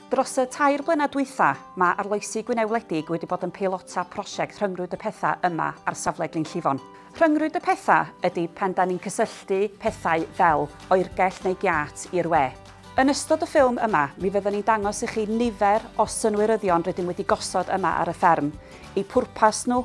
Dros y tair blynedd dwytha, mae arloesi Gwynedd Wledig wedi bod yn peilota prosiect Rhyngrwyd y Pethau yma ar safle Glyn Llifon. Rhyngrwyd y Pethau ydy pan da ni'n cysylltu pethau fel oergell neu giât i'r we. Yn ystod y ffilm yma, mi fydden ni'n dangos i chi nifer o synwyryddion rydym wedi gosod yma ar y fferm, eu pwrpas nhw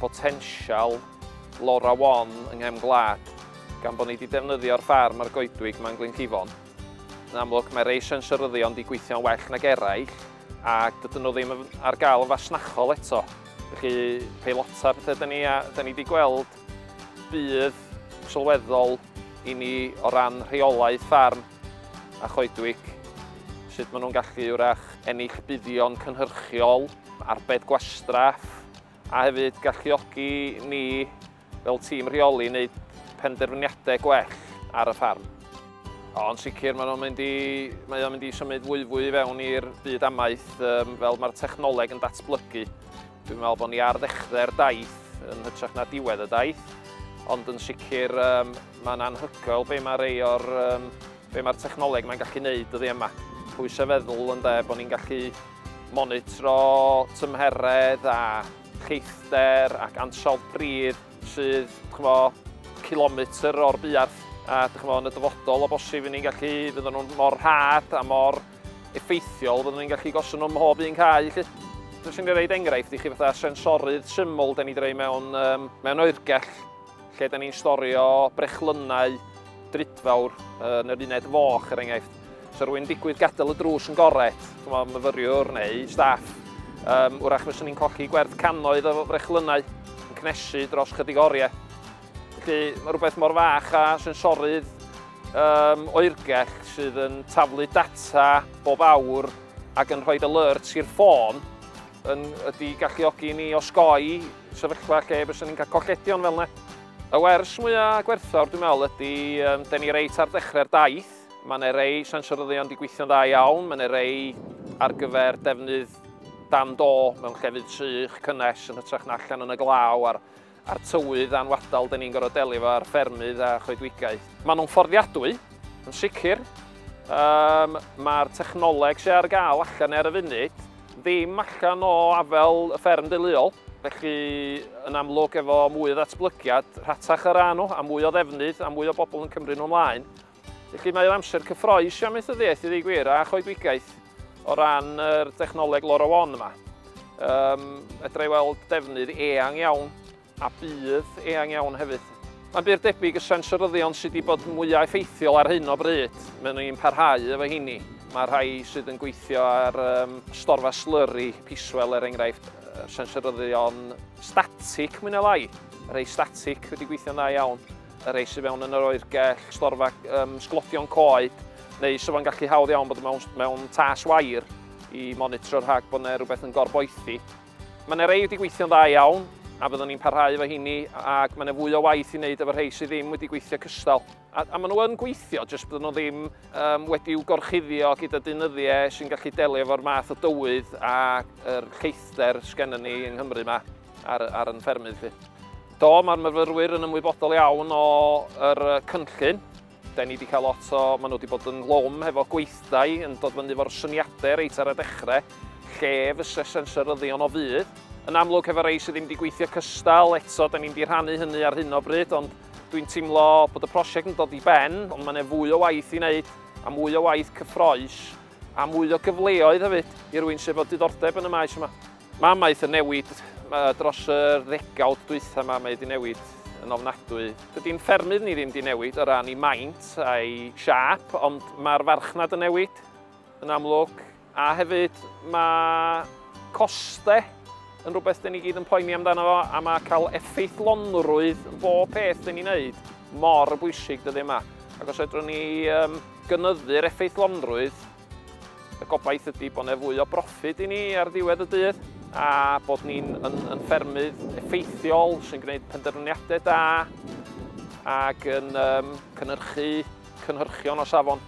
potensial Lora Wan yng nghefn gwlad gan bod ni wedi defnyddio'r ffarm a'r goedwig yma yn Glynllifon. Yn amlwg, mae rei sensoryddion wedi gweithio'n well nag eraill ac dydyn nhw ddim ar gael yn fasnachol eto. Felly, peilota pethau da ni, a, da ni wedi gweld budd sylweddol i ni o ran rheolaeth ffarm. a choedwig, sut maen nhw'n gallu wrach ennill buddion cynhyrchiol, arbed gwastraff, a hefyd galluogi ni fel tîm rheoli wneud penderfyniadau gwell ar y ffarm. Ond sicr mae'n mynd i, mae o'n mynd i symud fwyfwy i fewn i'r byd amaeth um, fel mae'r technoleg yn datblygu. Dwi'n meddwl bod ni ar ddechrau'r daith yn hytrach na diwedd y daith, ond yn sicr um, Mae'n anhygoel be mae rei o'r, um, be mae'r technoleg mae'n gallu neud dyddi yma. Pwysau feddwl yn de, bod ni'n gallu monitro tymheredd a cheithder ac ansawdd pridd sydd, chmo, kilometr o'r buarth. A chmo, yn y dyfodol o bosib i ni'n gallu, fydden nhw'n mor rhad a mor effeithiol, fydden ni'n gallu gosod nhw'n mhob un cae, lle. Dwi'n sy'n rhaid enghraifft i chi fatha sensorydd syml, da ni dreu mewn, um, mewn oergell lle da ni'n storio brechlynnau drudfawr yn yr uned foch, er enghraifft. So rwy'n digwydd gadael y drws yn goret, chymod, myfyriwr neu staff, um, wrach fes ni'n colli gwerth cannoedd o frechlynnau yn cnesu dros chydig oriau. Felly mae rhywbeth mor fach a sensorydd um, oergell sydd yn taflu data bob awr ac yn rhoi alerts i'r ffôn yn ydy i galluogi i ni osgoi sefyllfa lle byswn ni'n cael colledion fel yna. Y wers mwyaf gwerthfawr dwi'n meddwl ydy, um, den ni reit ar dechrau'r daith, mae yna rei sensoryddion wedi gweithio'n dda iawn, mae yna rei ar gyfer defnydd dan do mewn llefydd sych, cynnes yn hytrach na allan yn y glaw a'r a'r tywydd a'n wadal 'da ni'n gorfod delio efo ar ffermydd a choedwigaeth. Maen nhw'n fforddiadwy, yn sicr. Um, Mae'r technoleg sy'n ar gael allan ar y funud ddim allan o afel y fferm deuluol, felly yn amlwg efo mwy o ddatblygiad rhatach ar ran nhw a mwy o ddefnydd a mwy o bobl yn cymryd nhw ymlaen, Felly mae o'n amser cyffroes i amaethyddiaeth i ddweud gwir a choedwigaeth o ran yr dechnoleg LoRaWAN yma. Um, edrych i weld defnydd eang iawn a bydd eang iawn hefyd. Mae'n byr debyg y sensoryddion sydd wedi bod mwyaf effeithiol ar hyn o bryd. Mae'n ni'n parhau efo hynny. Mae rhai sydd yn gweithio ar um, storfa slurry, piswell er enghraifft, sensoryddion static mwy na lai. Rhai static wedi gweithio'n dda iawn. y rhai sydd mewn yn yr oergell, storfa um, sglodion coed, neu so fo'n gallu hawdd iawn bod mewn, mewn tas wair i monitro rhag bod yna rhywbeth yn gorboethi. Mae yna rei wedi gweithio'n dda iawn, a byddwn ni'n parhau efo hini, ac mae yna fwy o waith i wneud efo rhai sydd ddim wedi gweithio cystal. A, a maen nhw yn gweithio, jyst byddwn nhw ddim um, wedi'w gorchuddio gyda dynyddiau sy'n gallu delio efo'r math o dywydd a'r lleithder sgennyn ni yng Nghymru yma. ar ar yn ffermydd fi. Do, mae'r myfyrwyr yn ymwybodol iawn o'r cynllun. Da ni wedi cael lot o... Maen nhw wedi bod yn lwm hefo gweithdai yn dod fyny fo'r syniadau reit ar y dechrau, lle fysa sensoryddion o fydd. Yn amlwg, hefo rei sydd ddim wedi gweithio cystal, eto, da ni'n wedi rhannu hynny ar hyn o bryd, ond Dwi'n teimlo bod y prosiect yn dod i ben, ond mae'n fwy o waith i wneud, a mwy o waith cyffroes, a mwy o gyfleoedd hefyd i rwy'n sydd fod diddordeb yn y maes yma. Mae amaeth yn newid dros yr ddegawd dwytha ma, mae 'di newid yn ofnadwy. Dydy ein ffermydd ni ddim 'di newid o ran 'i maint a'i siâp, ond mae'r farchnad yn newid yn amlwg, a hefyd mae coste yn rhywbeth 'dyn ni gyd yn poeni amdano fo, a mae cael effeithlonrwydd yn bob peth 'dyn ni'n neud mor bwysig dyddie 'ma. Ac os fedrwn ni gynyddu'r effeithlonrwydd, Y gobaith ydy bod 'na fwy o broffid i ni ar ddiwedd y dydd a bod ni'n yn, yn ffermydd effeithiol sy'n gwneud penderfyniadau da ac yn um, cynhyrchu cynhyrchion o safon.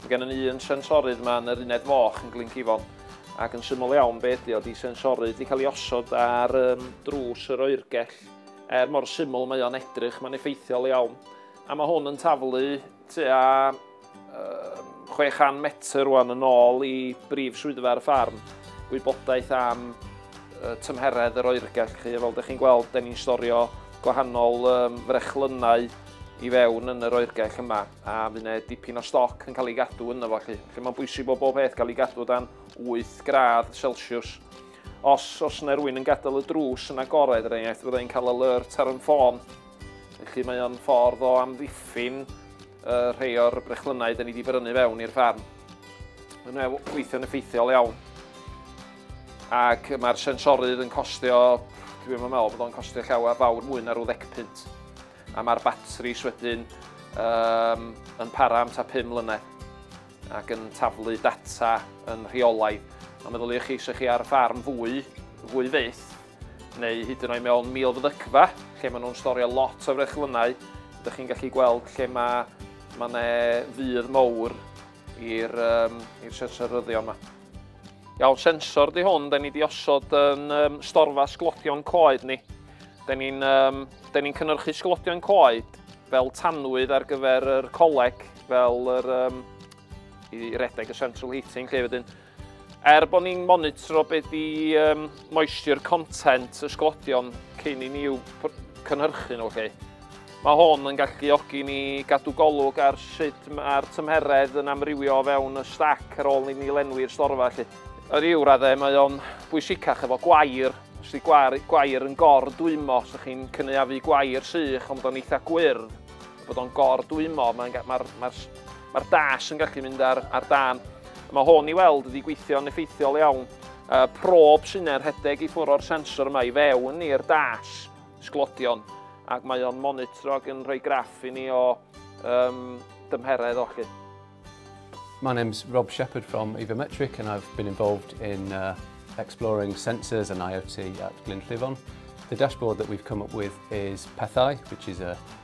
Mae gen ni un sensorydd yma yn yr uned foch yn Glyncifon ac yn syml iawn be ydy o, di sensorydd wedi cael ei osod ar um, drws yr oergell er mor syml mae o'n edrych, mae'n effeithiol iawn a mae hwn yn taflu Tua 600 metr rwan yn ôl i brif swyddfa ar y ffarm, gwybodaeth am tymheredd yr oergell. Chi. Fel ydych chi'n gweld, da ni'n storio gwahanol um, frechlynnau i fewn yn yr oergell yma, a fydd yna dipyn o stoc yn cael ei gadw yna fo chi. Felly mae'n bwysig bod bob peth cael ei gadw dan 8 gradd Celsius. Os, os yna rwy'n yn gadael y drws yn agored, er enghraifft, fyddai'n cael alert ar yn ffôn Felly mae o'n ffordd o amddiffyn uh, rhai o'r brechlynau da ni wedi brynu fewn i'r ffarm. Mae'n gweithio'n effeithiol iawn. Ac mae'r sensorydd yn costio, dwi'n meddwl meddwl bod o'n costio llawer fawr mwy na rhyw ddec punt. A mae'r batris wedyn um, yn para am ta 5 mlynedd ac yn taflu data yn rheolaidd. A meddyliwch chi, sech chi ar ffarm fwy, fwy fyth, neu hyd yn oed mewn milfeddycfa, lle maen nhw'n storio lot o frechlynnau, ydych chi'n gallu gweld lle mae, mae yna fydd mowr i'r um, sensor ryddion yma. Iawn, sensor di hwn, da ni di osod yn um, storfa sglodion coed ni. Da ni'n um, ni cynnyrchu sglodion coed fel tanwydd ar gyfer yr coleg, fel yr, um, i redeg y central heating lle wedyn. Er bod ni'n monitro be di um, moisture content y sglodion cyn i ni i'w cynhyrchu nhw chi. Mae hwn yn galluogi ni gadw golwg ar sut mae'r tymheredd yn amrywio o fewn y stac ar ôl ni ni lenwi'r storfa chi. Yr i'w raddau mae o'n bwysicach efo gwair, os di gwair, gwair yn gor dwymo, os ydych chi'n cynaeafu gwair sych ond bod o'n eitha gwyrdd, bod o'n gor dwymo, mae'r mae, mae, mae Mae'r dash yn gallu mynd ar, ar dan. Mae hwn i weld wedi gweithio'n effeithiol iawn. Uh, prob sy'n er rhedeg i ffwrdd o'r sensor yma i fewn i'r dash sglodion ac mae o'n monitro ac yn rhoi graff i ni o um, dymheredd o chi. My name's Rob Shepherd from Evometric and I've been involved in uh, exploring sensors and IoT at Glyn Llifon. The dashboard that we've come up with is Pethau, which is a